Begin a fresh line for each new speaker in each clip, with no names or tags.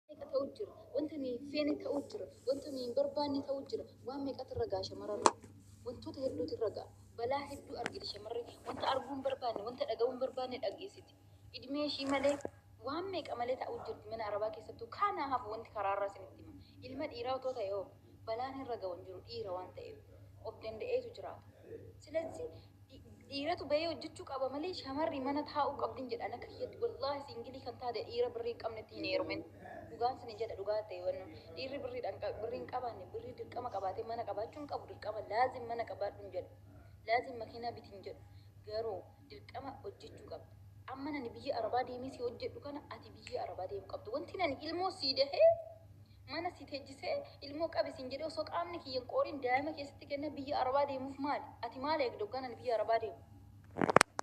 meeqa ta'u jira wanta nuyi hin feene ta'u jira wanta nuyi hin barbaanne ta'u jira waan meeqatu irra ga'a shamarran hedduu wantoota hedduutu irra ga'a balaa hedduu argiti shamarri wanta arguu hin barbaanne wanta dhaga'uu hin barbaanne dhageessiti idmee ishii malee waan meeqa malee ta'u jirti mana arabaa keessattuu kaanaa hafu wanti karaarraa isinitti hima ilma dhiiraa otoo ta'e hoo Balaan irra ga'u hin jiru dhiira waan ta'eef of danda'eetu jiraata. Silazzi dhiiratu bahee hojjechuu qaba malee shamarri mana taa'uu qabdin jedha ana kiyyatti wallaahi siingilii kan taate dhiira birrii hin qabnetti hin heerumin. Dhugaan sinin jedha dhugaa ta'e wannu dhiirri birriidhaan birrii hin qabaanne birrii dirqama qabaatee mana qabaachuu hin qabu dirqama laazim mana qabaadhu hin jedhu. Laazim makiinaa biti hin jedhu. Garuu dirqama hojjechuu qabda. Amma nani biyya arabaa deemee si hojjedhu kana ati biyya arabaa deemu qabda. Wanti nani ilmoo sii dahee Mana si teejjisee ilmoo qabi siin jedhee osoo qaamni kiyya hin qooriin daa'ima kee sitti kennee biyya arabaa deemuuf maali? Ati maal eegda hoggaan ani biyya arabaa deemu?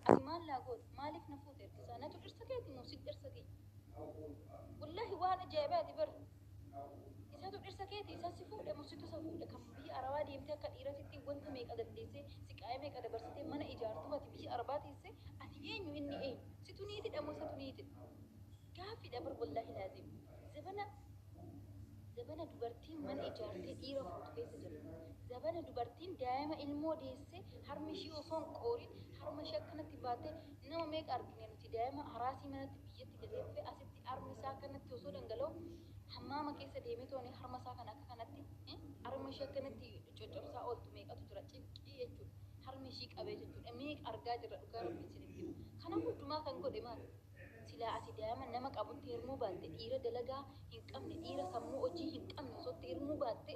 Ati maal naa goota? Maaliif na fuute erga isaa? Natu dhirsa keeti moo situ dhirsa kiyya? Wallahi waan ajaa'ibaati bar. Isatu dhirsa keeti isa si fuudhe moo situ isa fuudhe? Kan biyya arabaa deemtee akka dhiiratitti wanta meeqa dandeessee siqaa'ee meeqa dabarsitee mana ijaartuuf ati biyya arabaa teessee ati eenyu inni eenyu? Situ niitidha moo isatu niitidha? Gaaffiidha bar wallahi laaziim. Zabana Zabana dubartiin mana ijaartee dhiira fuutu keessa jirra. Zabana dubartiin daa'ima ilmoo deessee harmi ishii osoo hin qooriin harma ishii akkanatti baatee nama meeqa argine nuti daa'ima haraasii manatti biyyatti gatee dhufee asitti harmi isaa akkanatti osoo dhangala'u hammaama keessa deemee tooni harma isaa kana akka kanatti harma ishii akkanatti coccobsaa ooltu meeqatu jira cinqii jechuudha. Harmi ishii qabee jechuudha. Meeqa argaa jirra dhugaa rabbi isinitti. Kana hundumaa kan godhe maali? Silaa ati daa'ima nama qabutti heerumuu baatte dhiira dalagaa hin qabne dhiira sammuu hojii hin qabne osoo itti heerumuu baatte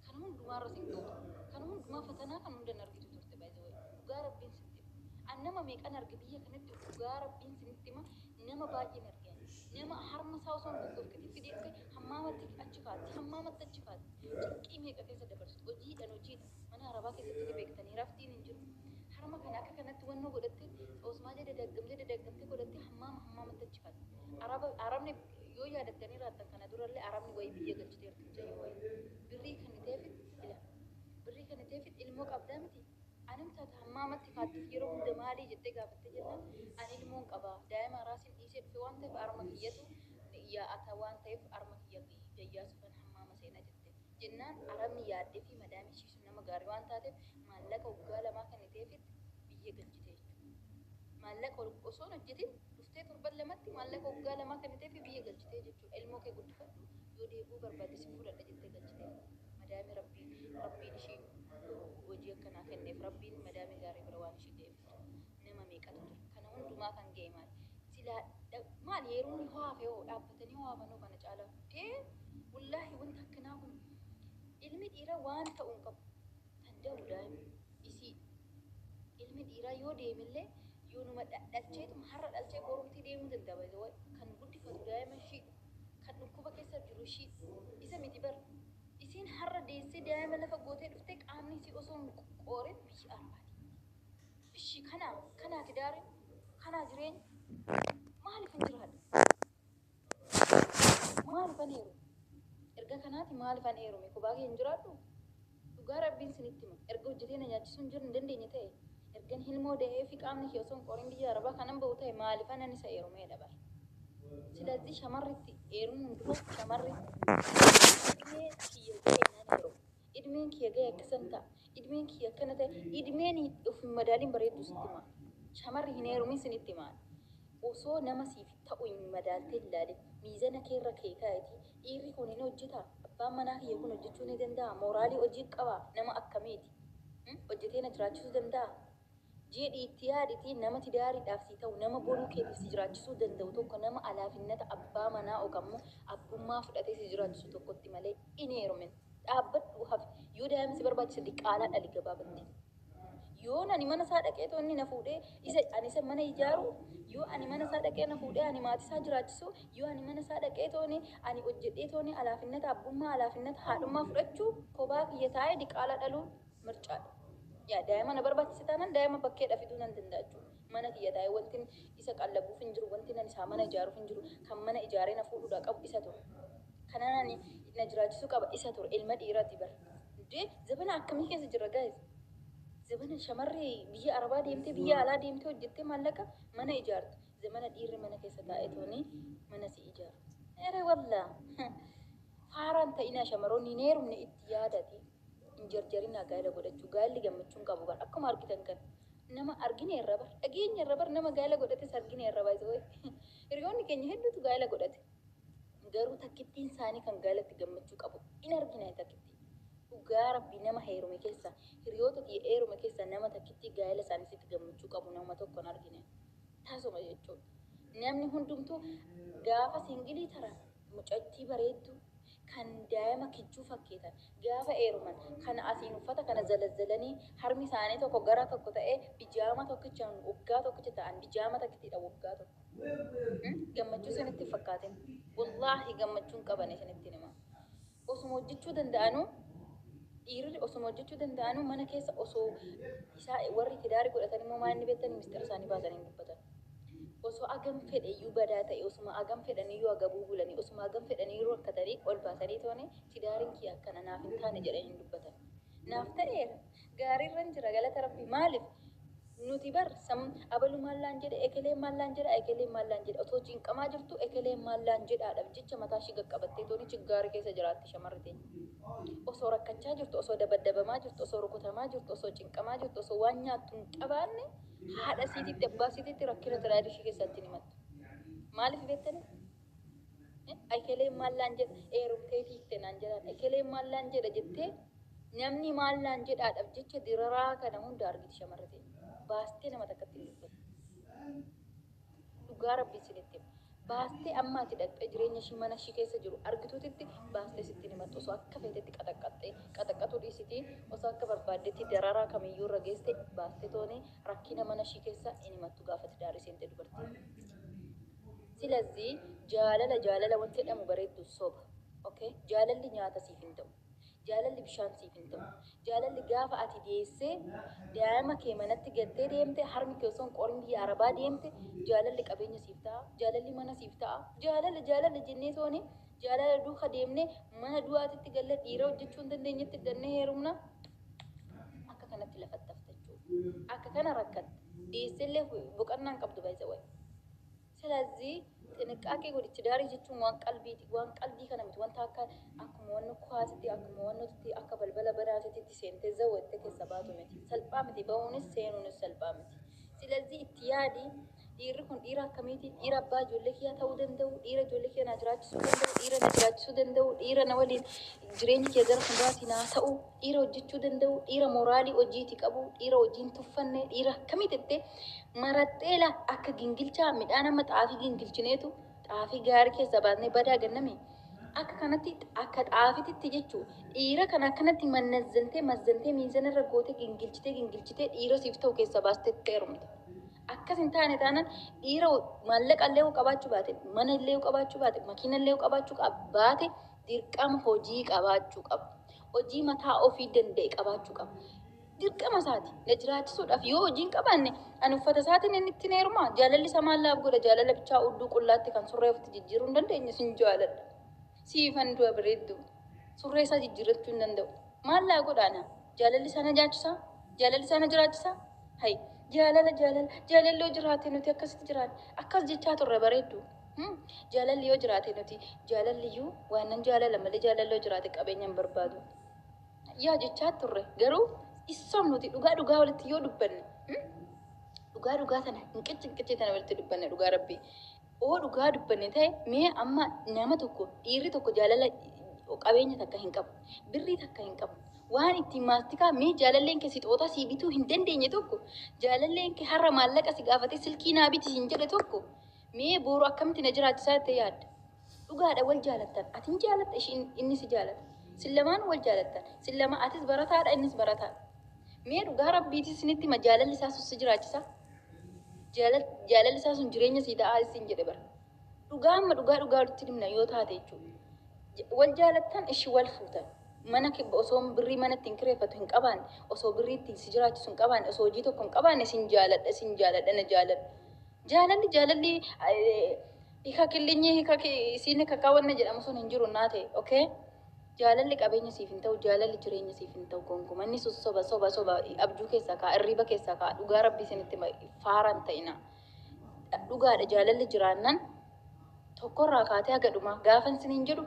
kana hundumaa irras hin ga'u turte. Kana hundumaa fatanaa kana hunda hin argitu turte by the way. Dhugaa Rabbiin sitti hima. An nama meeqan arge biyya kanatti dhugaa Rabbiin sinitti hima nama baay'een arge ani. Nama harma isaa osoo hin goggofkitin fideesse hammaamatti achi kaatti hammaamatti achi kaatti cinqii meeqa keessa dabarsitu hojiidhan hojiidhan. Mana harabaa keessatti ni beektanii raftiin hin jiru. Harma kana akka kanatti wannoo godhattee xoosmaalee dadaggamtee dadaggamtee godhattee hammaama hammaamatti achi kan. Araba arabni yoo yaadattanii raattan kana durallee arabni wayii biyya galchiteerti mucayyoo wayii. Birrii kenniteefit ila. Birrii kenniteefit ilmoo qabdaa miti. Anim taata hammaamatti kaattif yeroo hunda maalii jettee gaafattee jennaan ani ilmoon qaba daa'ima araasiin dhiisee dhufe waan ta'eef arma kiyyatu yaa ata waan ta'eef arma kiyya gayyaasuufan hammaama seena jetteen. jennaan arabni yaaddefii madaamiin ishii sun nama gaarii waan taateef maallaqa waggaa lamaa kenniteefitti biyya galchite jechuudha. Maallaqa osoo hin hojjetin dhuftee torban lamatti maallaqa waggaa lamaa kenniteefii biyya galchitee jechuudha. Ilmoo kee guddifadhu yoo deebi'uu barbaadde sin fudhadha jettee galchitee. Madaamii rabbii rabbiin ishii hojii akkanaa kenneef rabbiin madaamii gaarii bira waan ishii ga'eef jechuudha. nama meeqatu ture kana hundumaa kan ga'e maal silaa maal yeroon yoo hafe hoo dhaabbatanii hoo hafan hoo kana caalaa ee wallaahi wanta akkanaa kun ilmi dhiiraa waan ta'u hin qabu kan da'u daa'ima isii ilmi dhiiraa yoo deemillee yoonuma dhalcheetuma har'a dhalchee borumtii deemuu danda'a kan guddifatu daa'ima ishii kan dhukkuba keessa jiru ishii isa miti bara isiin har'a deessee daa'ima lafa gootee dhuftee qaamni isii osoo hin qoorin biyya arbaati Ishi kanaa kanaa tidaarin kanaa jireenya maalifin jiraadha maalifan heerume erga kanaati maalifan heerume kophaa kiyyan jiraadhu dhugaa rabbiin sinitti hima erga hojjetee na nyaachisuun jir hin dandeenye ta'e ergan hilmoo da'ee fi qaamni kiyya osoo hin qorin biyya arabaa kanan ba'u ta'e maalifanan isa heerumeedha bar silazii shamarritti heerumuun dura shamarri idmee kiyya ga'e nan heeruma idmeen kiyya ga'e akkasan ta'a Idmeen kiyya akkana ta'e idmeen of hin madaaliin bareedduu sitti himaa. Shamarri hin heerumin sinitti himaa. Osoo nama siif ta'u hin madaaltee hin laalin miizana kee irra kee kaa'itii dhiirri kun hin hojjetaa abbaan manaa kiyya kun hojjechuu ni danda'a mooraalii hojii qaba nama akkamiiti hojjetee na jiraachisuu danda'a Jeedhi itti yaaditi nama tidaaridhaaf sii ta'u nama boruu keetif si jiraachisuu danda'u tokko nama alaafinnata abbaa manaa ok ammo abbummaa fudhatee si jiraachisu tokkotti malee in heerumin dhaabbadhu hafi yoo daa'ima si barbaachise diqaalaa dhali gabaabatti yoon ani mana isaa dhaqeetoo inni na fuudhee isa ani isa mana ijaaru yoo ani mana isaa dhaqee na fuudhee ani maatii isaa jiraachisu yoo ani mana isaa dhaqeetooni ani hojjedheetooni alaafinnata abbummaa alaafinnata haadhummaa fudhachuu kophaa kiyya taa'ee diqaalaa dhaluu mircaadha. Yaa daa'ima na barbaachise taanaan daa'ima bakkeedha fiduu nan danda'a jechuudha. Mana kiyya taa'ee wantin isa qallabuuf hin jiru, wantin ani isaa mana ijaaruuf hin jiru. Kan mana ijaaree na fuudhuudhaa qabu isa ture. Kanaan ani na jiraachisuu qaba isa ture. Ilma dhiiraati bar. Dee zabana akkamii keessa jirra guys? Zabana shamarri biyya Arabaa deemtee biyya alaa deemtee hojjettee maallaqa mana ijaartu. Zamana dhiirri mana keessa taa'ee tooni mana si ijaaru. Ere wallaa! Faaraan ta'inaa shamaroonni hin heerumne itti yaadati. hin jarjarinaa gaa'ila godhachuu gaa'illi gammachuun qabu bar akkuma argitan kan nama argine irra bar dhageenya irra bar nama gaa'ila godhates argine irra baay'isa way hiriyoonni keenya hedduutu gaa'ila godhate garuu takkittiin isaanii kan gaa'ilatti gammachuu qabu in argina takkittii dhugaa rabbi nama heerume keessa hiriyoota kiyya heerume keessa nama takkittii gaa'ila isaaniisitti gammachuu qabu nama tokko hin argine taasuma jechuudha namni hundumtuu gaafa singilii taran Mucattii bareedduu kan daa'ima kichuu fakkeetan gaafa eeruman kan asiin uffata kana zalazzalanii harmi isaanii tokko gara tokko ta'ee bijaama tokkichaan waggaa tokkicha ta'an bijaama takkitiidha waggaa tokko Gammachuu isinitti hin fakkaatin Wallaahi gammachuun qabane isinittiin hima Osuma hojjechuu danda'anuu dhiirri osuma hojjechuu danda'anuu mana keessa osoo isaa warri tidaari godhatan immoo maa inni beektanii mistira isaanii baasanii hin dubbatan. Osoo agam fedhe iyyuu badaa ta'e osuma agam fedhanii iyyuu agabuu bulanii osuma agam fedhanii iyyuu rakkatanii ol baasanii toone tidaariin kiyya akkana naaf hin taane jedhanii hin dubbatan. Naaf ta'eera Gaariirran jira galata rabbii maalif nuti bar sam abalu maallaan jedhe ekelee maallaan jedha ekelee maallaan jedha otoo cinqamaa jirtu ekelee maallaan jedhaadhaf jecha mataa ishii gaqqabattee tooni chiggaari keessa jiraatti shamarri teenya osoo rakkachaa jirtu osoo dabaddabamaa jirtu osoo rukutamaa jirtu osoo cinqamaa jirtu osoo waan nyaattu hin qabaanne haadha siititti abbaa siititti rakkina tiraayid ishii keessatti hin himattu maaliif beektanii Ekeleen maal naan jedha eerumtee fiigte naan jedhaan ekeleen maal naan jedha jettee namni maal naan jedhaadhaaf jecha diraraa kana hunda argiti shamarri ta'e baastee nama takkatti hin dubbatu. Dhugaa rabbi isinitti hima. baastee amma ati dhaqxee jireenya ishii mana ishii keessa jiru argituutitti baastee sitti himattu osoo akka feetetti qaxaqqaxxee qaxaqqatuu dhiisitii osoo akka barbaaddetti dararaa kamiyyuu irra geesse baastee toonee rakkina mana ishii keessa hin himattu gaafa tidaarii seentee dubartii. Silazzi jaalala jaalala wanti jedhamu bareeddu soba ok jaalalli nyaata siif hin ta'u jaalalli bishaan siif hin ta'u jaalalli gaafa ati deessee daa'ima kee manatti gattee deemte harmi kee osoo hin qorin biyya arabaa deemte jaalalli qabeenya siif ta'a jaalalli mana siif ta'a jaalala jaalala jennee tooni jaalala duuka deemne mana du'aatitti galla dhiira hojjechuu hin dandeenyetti dannee heerumna Akka kanatti lafatti hafte jechuudha. Akka kana rakkatte. Dhiyeesseellee boqannaan qabdu baay'isa wayi. Salazii xinqqaaqee godhi tidaarii jechuun waan qalbiiti. Waan qalbii kana miti wanta akka akkuma wanna kuwaasitti akkuma wannootitti akka balbala banaatitti seentee zawwatte keessa baatu miti. Salphaa miti bahuunis seenuunis salphaa miti. Silazii itti yaadi Dhiirri kun dhiira akkamiiti? Dhiira abbaa ijoollee kiyyaa ta'uu danda'u, dhiira ijoollee kiyya naa jiraachisuu danda'u, dhiira na jiraachisuu danda'u, dhiira na waliin jireenyi kiyya gara fuulduraatti naa ta'u, dhiira hojjechuu danda'u, dhiira moraalii hojiiti qabu, dhiira hojiin tuffanne, dhiira akkamii jettee marattee la akka gingilchaa midhaan amma xaafii gingilchineetu xaafii gaarii keessaa baasnee badaa ganname. Akka kanatti akka xaafititti jechuu dhiira kana akkanatti mannazzantee mazzantee miizana irra gootee gingilchitee gingilchitee dhiira siif ta'u keessaa baastee heerumte. Akkas hin taane taanaan dhiira maallaqa illee yoo qabaachuu baate, mana illee yoo qabaachuu baate, makiina illee yoo qabaachuu qab- baate dirqama hojii qabaachuu qaba. Hojii mataa ofii danda'e qabaachuu qaba. Dirqama isaati na jiraachisuudhaaf yoo hojii hin qabaanne ani uffata isaatiin inni ittiin heerumaa jaalalli isa maal naaf godha jaalala bichaa udduu qullaatti kan surree ofitti jijjiiruu hin dandeenye sin jaaladha. Siifan du'a bareedduu. Surree isaa jijjiirrachuu hin danda'u. Maal naa godhaa naa? Jaalalli isaa na nyaachisaa? Jaalalli isaa na jiraachisaa? Hay, jaalala jaalala jaalalli yoo jiraate nuti akkasitti jiraanne akkas jechaa turre bareeddu. Hmm, Jaalalli yoo jiraate nuti jaalalli iyyuu waan nan jaalala malee jaalalli yoo jiraate qabeenya hin barbaadu. Yaa jechaa turre garuu issoom nuti dhugaa dhugaa walitti yoo dubbanne hmm, dhugaa dhugaa tana hin qicci hin qicci tana walitti dubbanne dhugaa rabbii. Hoo dhugaa dubbanne ta'e mee amma nama tokko dhiirri tokko jaalala qabeenya takka hin qabu birrii takka hin qabu waan ittiin maastikaa mee jaalalleen kee sixootaa sii bituu hin dandeenye tokko jaalalleen kee har'a maallaqa si gaafatee silkii naa biti siin jedhe tokko mee booru akkamitti na jiraachisaa jettee yaadda dhugaadha wal jaalattan ati hin jaalatta ishiin inni si jaalata sin lamaan wal jaalattan sin lama atis barataadha innis barataadha mee dhugaa rabbiitis isinitti ma jaalalli isaa sussi jiraachisaa Jaalal- Jaalalli isaa sun jireenya sii ta'aa issiin jedhe bara. Dhugaa amma dhugaa dhugaa walitti himna yoo taate jechuudha. J- Wal jaalattan ishi wal fuutan. Mana ke- osoo birrii mana ittiin kireeffatu hin qabaanne, osoo birrii ittiin si jiraachisu hin qabaanne, osoo hojii tokko hin qabaanne sin jaaladha sin jaaladha na jaaladha. Jaalalli jaalalli eh, hika killinyi hika ki- isiin hika kaawwanna jedhamu sun hin jiru naa ta'e. Okay? Jaalalli qabeenya siif hin ta'u jaalalli jireenya siif hin ta'u gonkuma inni sun soba soba soba abjuu keessaa ka'a irriiba keessaa ka'a dhugaa rabbii isinitti hima faara hin ta'ina dhugaadha jaalalli jiraannan tokkorraa kaatee haga dhumaa gaafa isiniin jedhu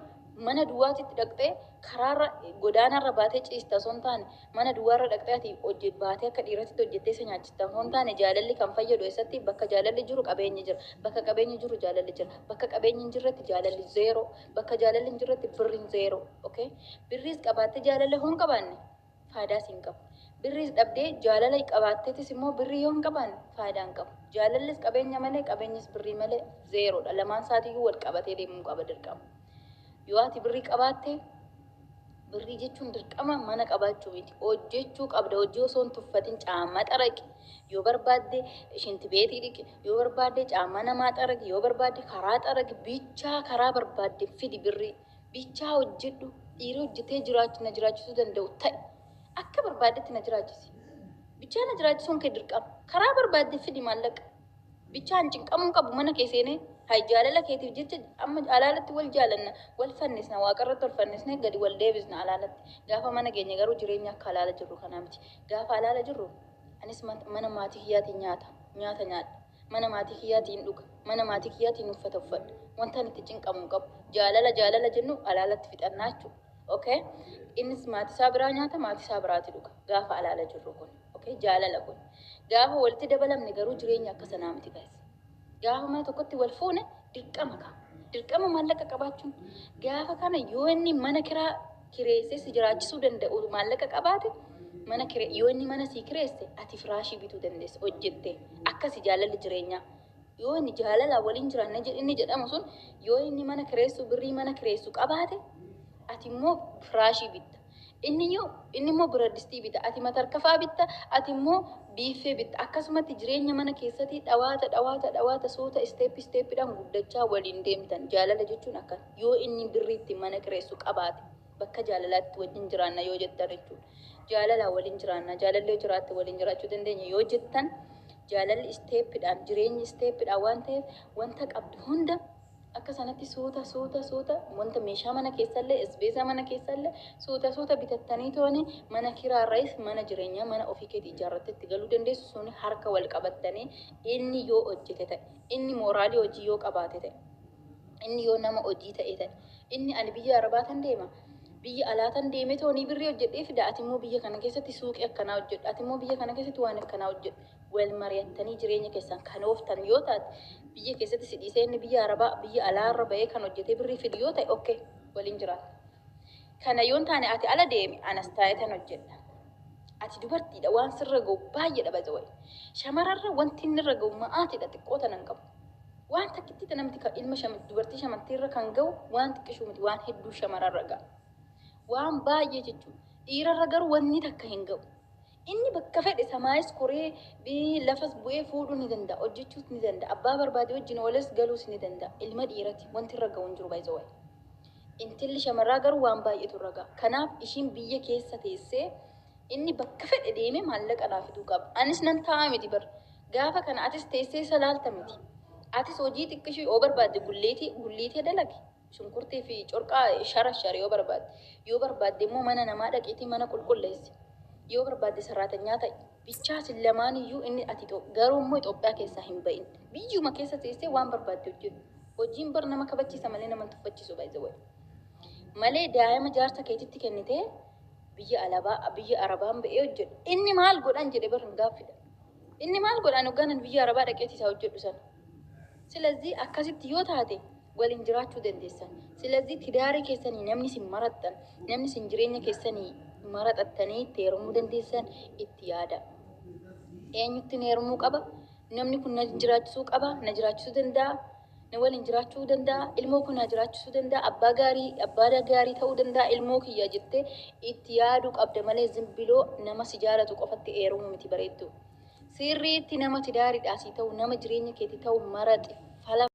mana duwwaatitti dhaqxee karaarra godaanaarra baatee ciista osoo hin taane mana duwwaarra dhaqxee ati hojje baatee akka dhiiratitti hojjettee isa nyaachista osoo hin taane jaalalli kan fayyadu eessatti bakka jaalalli jiru qabeenyi jira bakka qabeenyi jiru jaalalli jira bakka qabeenyi hin jirretti jaalalli zeeroo Bakka jaalalli hin jirretti birriin zeeroo. Okay? Birriis qabaattee jaalala yoo hin qabaanne faayidaa siin qabu. Birriis dhabdee jaalala qabaatteetis immoo birrii yoo hin qabaanne faayidaa hin qabu. Jaalallis qabeenya malee qabeenyis birrii malee zeeroodha. Lamaan isaatiiyyuu wal qabatee deemuu qaba dirqama. Yoo ati birrii qabaatte Birrii jechuun dirqama mana qabaachuu miti. Hojjechuu qabda. Hojii osoo hin tuffatin caammaa xaraqi. Yoo barbaadde shinti beetii dhiqi. Yoo barbaadde caammaa namaa xaraqi. Yoo barbaadde karaa xaraqi. Bichaa karaa barbaadde fidi birrii. Bichaa hojjedhu. Dhiira hojjetee jiraachu na jiraachisuu danda'u ta'i. Akka barbaaddetti na jiraachisi. Bichaa na jiraachisuun kee dirqama. Karaa barbaadde fidi maallaqa. Bichaan cinqamuu hin qabu mana kee seenee hay jaalala keetiif jecha amma alaalatti wal jaalanna wal fannisna waaqarratti ol fannisnee gadi wal deebisna alaalatti gaafa mana geenye garuu jireenya akka alaala jirru kanaa miti gaafa alaala jirru anis mana maatii kiyyaatiin nyaata nyaata nyaadha mana maatii kiyyaatiin dhuga mana maatii kiyyaatiin uffata uffadha wantan itti cinqamu hin qabu jaalala jaalala jennu alaalatti fixannaa jechuudha okay innis maatii isaa biraa nyaata maatii isaa biraati dhuga gaafa alaala jirru kun ok jaalala kun gaafa walitti dabalamne garuu jireenya akka sanaa miti guys gaafa mana tokkotti wal fuune dirqama ka dirqama maallaqa qabaachuun gaafa kana yoo inni mana kiraa kireessee si jiraachisuu danda'u maallaqa qabaate mana kire yoo inni mana sii kireesse ati firaashii bituu dandeessa hojjette akkasi jaalalli jireenyaa yoo inni jaalala waliin jiraanne jedh- inni jedhamu sun yoo inni mana kireessu birrii mana kireessu qabaate ati immoo firaashii bitta Inniyyuu, inni immoo biraddistii bita, ati matarkafaa bitta, ati immoo biiffee bitta. Akkasumatti jireenya mana keessati dhawaata dhawaata dhawaata suuta isteeppi isteeppidhaan guddachaa waliin deemtan. Jaalala jechuun akkana. Yoo inni birrii ittiin mana kireessu qabaate bakka jaalalaatti wajjin jiraanna yoo jettan jechuudha. Jaalalaan waliin jiraanna, jaalalli yoo jiraatte waliin jiraachuu dandeenya yoo jettan jaalalli isteeppidhaan, jireenyi isteeppidhaan waan ta'eef wanta qabdu hunda Akka sanatti suuta suuta suuta wanta meeshaa mana keessallee isbeesaa mana keessallee suuta suuta bitattaniitooni mana kiraarrayis mana jireenyaa mana ofii keeti ijaarrattee itti galuu dandeessu suni harka wal qabattanii inni yoo hojjete ta'e inni mooraalii hojii yoo qabaate ta'e inni yoo nama hojii ta'e ta'e inni ani biyya arabaa tan deema biyya alaa tan deemee toonii birrii hojjedhee fida ati immoo biyya kana keessatti suuqii akkanaa hojjedhu ati immoo biyya kana keessatti waan akkanaa hojjedhu Wal mari'attanii jireenya keessan kan ooftan yoo taate, biyya keessatti si dhiisee inni biyya Arabaa, biyya alaarra bahee kan hojjetee birrii fidu yoo ta'e ok, waliin jiraatta. Kana yoo hin taane ati ala deemi, anas taa'eetan hojjedha. Ati dubartiidha, waan sirra ga'u baay'eedha by the way. Shamararra wanti inni irra ga'u ma'aatiidha, xiqqoo tana hin qabu. Waan takkittii tana miti kan ilma shama- dubartii shamartiirra kan ga'u waan xiqqishuu miti, waan hedduu shamararra ga'a. Waan baay'ee jechuudha. Dhiirarra garuu wanni takka hin ga'u. Inni bakka fedhe samaayis koree, bi, lafas bu'ee fuudhuu ni danda'a, hojjechuus ni danda'a, abbaa barbaade wajjin oolees galuus ni danda'a. Ilma dhiirati wanti irra ga'u hin jiru by the way. Intalli shamarraa garuu waan baay'eetu irra ga'a. Kanaaf ishiin biyya keessa teessee inni bakka fedhe deemee maallaqa naa fiduu qaba. Anis nan taa'aa miti bar. Gaafa kana atis teessee isa laalta miti. Atis hojii xiqqishoo yoo barbaadde gulleetii gulliitee dalagi. Shunkurtii fi corqaa sharashar yoo barbaadde. Yoo barbaadde immoo mana namaa dhaqiitii mana qulqulleessi. Yoo barbaadde sarraatanyaa ta'i. Bichaa isin lamaan iyyuu inni ati garuu immoo Itoophiyaa keessaa hin ba'in. Biyyuma keessa teessee waan barbaadde hojjedhu. Hojiin bar nama kabachiisa malee nama hin tuffachiisu by the way. Malee daa'ima jaarsa keetitti kennitee biyya alabaa biyya arabaan ba'ee hojjedhu. Inni maal godhan jedhe bar hin gaaffidha. Inni maal godhan hoggaan ani biyya arabaa dhaqeeti isaa hojjedhu sana. Silazii akkasitti yoo taate waliin jiraachuu dandeessan. Silazii tidaara keessanii namni isin marattan, namni isin jireenya keessanii maraxattanii itti heerumuu dandeessan itti yaada. Eenyutti na heerumuu qaba? Namni kun na jiraachisuu qaba, na jiraachisuu danda'a, na waliin jiraachuu danda'a, ilmoo koo na jiraachisuu danda'a, abbaa gaarii, abbaa gaarii ta'uu danda'a, ilmoo kiyya jettee itti yaaduu qabda malee zimbiloo nama si jaalatu qofatti heerumuu miti bareeddu. Sirriitti nama tidaariidhaa si ta'u, nama jireenya keetti ta'u maraxi falama.